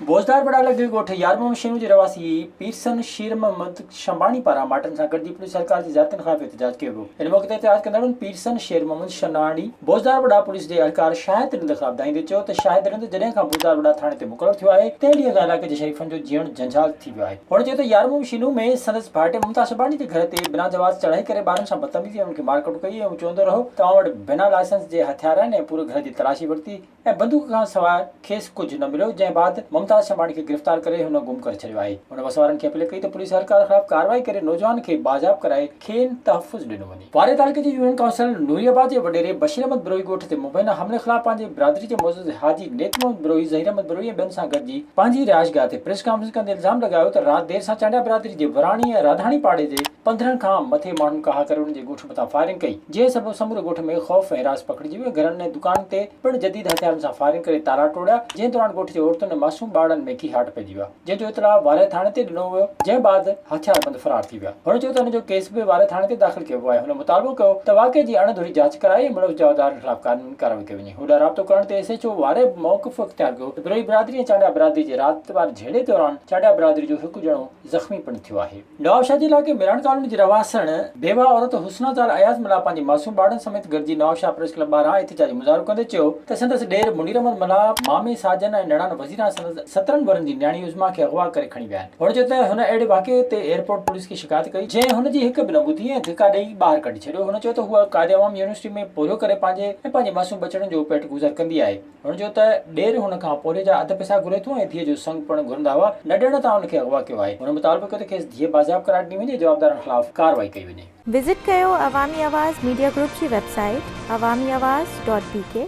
بوزدار بڙا لڳ ڳوٺ يارموم شينو جي رهواسي پيرسن شير محمد شنباڻي پاران ماٽن سان گڏجي پوليس اهلڪار جي زيارتن خلاف احتجاج ڪيو ويو ان موقعي تي احتجاج ڪندڙن پيرسن شير محمد شناڻي بوزدار بڙا پوليس جي اهلڪار شاهد رند خلاف دانهيندي چيو ته شاهد رند جڏهن کان بوزدار بڙا ٿاڻي تي مقرر ٿيو آهي تنهن ڏينهن کان علائقي جي شريفن جو جيئڻ جنجال ٿي ويو آهي. هن چيو ته يارمون شينو ۾ سندس ڀائٽي ممتاز شباني جي گهر تي بنا جواز چڙهائي ڪري ٻارن سان بدتميزي ۽ انهن کي مارڪٽ ڪئي ۽ هو چوندو رهيو ته اوهان وٽ بنا لائسنس جي هٿيار آهن ۽ پوري گهر جي تلاشي ورتي ۽ بندوق کان سواء کيس ڪجهه نه مليو جنهن بعد ممتاز شباني کي گرفتار ڪري هن گم ڪري ڇڏيو آهي هن وسوارن کي اپيل ڪئي ته پوليس اهلڪار خلاف ڪارروائي ڪري نوجوان کي بازياب ڪرائي کين تحفظ ڏنو وڃي. واري تعلقي جي يونين ڪائونسل نوري آباد جي وڏيري بشير احمد بروهي ڳوٺ تي مبينا حملي خلاف پنهنجي برادري جي معزز حاجي نيت محمد بروهي، ظهير احمد بروهي ۽ ٻين سان گڏجي پنهنجي رهائشگاهه تي پريس ڪانفرنس ڪندي الزام لڳايو ته رات دير سان چانڊيا برادري جي وراڻي ۽ راڌاڻي پاڙي جي پندرهن کان مٿي ماڻهن ڪاهه ڪري انهن جي ڳوٺ مٿان فائرنگ ڪئي جنهن سبب سموري ڳوٺ ۾ خوف ۽ هراس پکڙجي ويو گهرن ۽ دڪانن تي پڻ جديد هٿيارن سان فائرنگ ڪري تالا ٽوڙيا جنهن دوران ڳوٺ جي عورتن ۽ معصوم ٻارڙن ۾ ڪيهاٽ پئجي ويا. جنهن جو اطلاع وارهي ٿاڻي تي ڏنو ويو جنهن بعد هٿياربند فرار ٿي ويا هن چيو ته هن جو ڪيس به وارهي ٿاڻي تي داخل ڪيو ويو آهي هن مطالبو ڪيو ته واقعي جي اڻ ڌري جاچ ڪرائي ۽ ملوث جوابدارن خلاف قانوني ڪارروائي ڪئي وڃي هوڏانهن رابطو ڪرڻ تي ايس ايڇ او وارهي به موقف اختيار ڪيو ته بروهي برادري ۽ چانڊيا برادري جي رات واري جهيڙي دوران چانڊيا برادري جو هڪ ڄڻو زخمي پڻ ٿيو آهي نوابشاهه جي علائقي ميراڻ ڪالوني جي رهواسڻ بيواهه عورت حسنا زال اياز ملاح پنهنجي معصوم ٻارڙن سميت گڏجي نوابشاهه پريس ڪلب ٻاهران احتجاجي مظاهرو ڪندي چيو ته سندس ڏير منير احمد ملاح، مامي ساجن ۽ نڻان وزيرا سندس سترهن ورهن جي نياڻي عظميٰ کي اغوا ڪري کڻي ويا آهن. هن چيو ته هن اهڙي واقعي تي ايئرپورٽ پوليس کي شڪايت ڪئي جنهن هن جي هڪ به نه ٻڌي ۽ ڌڪا ڏئي ٻاهر ڪڍي ڇڏيو. هن چيو ته هوء قائدعوام يونيورسٽي ۾ پورهيو ڪري پنهنجي ۽ پنهنجي معصوم ٻچڙن جو پيٽ گذر ڪندي آهي. هن چيو ته ڏير هن کان پورهيي جا اڌ پئسا گهري ٿو ۽ ڌيء جو سڱ پڻ گهرندا هئا، نه ڏيڻ تان هن کي اغوا ڪيو آهي. هن مطالبو ڪيو ته کيس ڌيء بازياب قرار ڏني وڃي ۽ جوابدارن خلاف ڪارروائي ڪئي وڃي. وزٽ ڪيو عوامي آواز ميڊيا گروپ جي website Awami Awaz dot بي ڪي.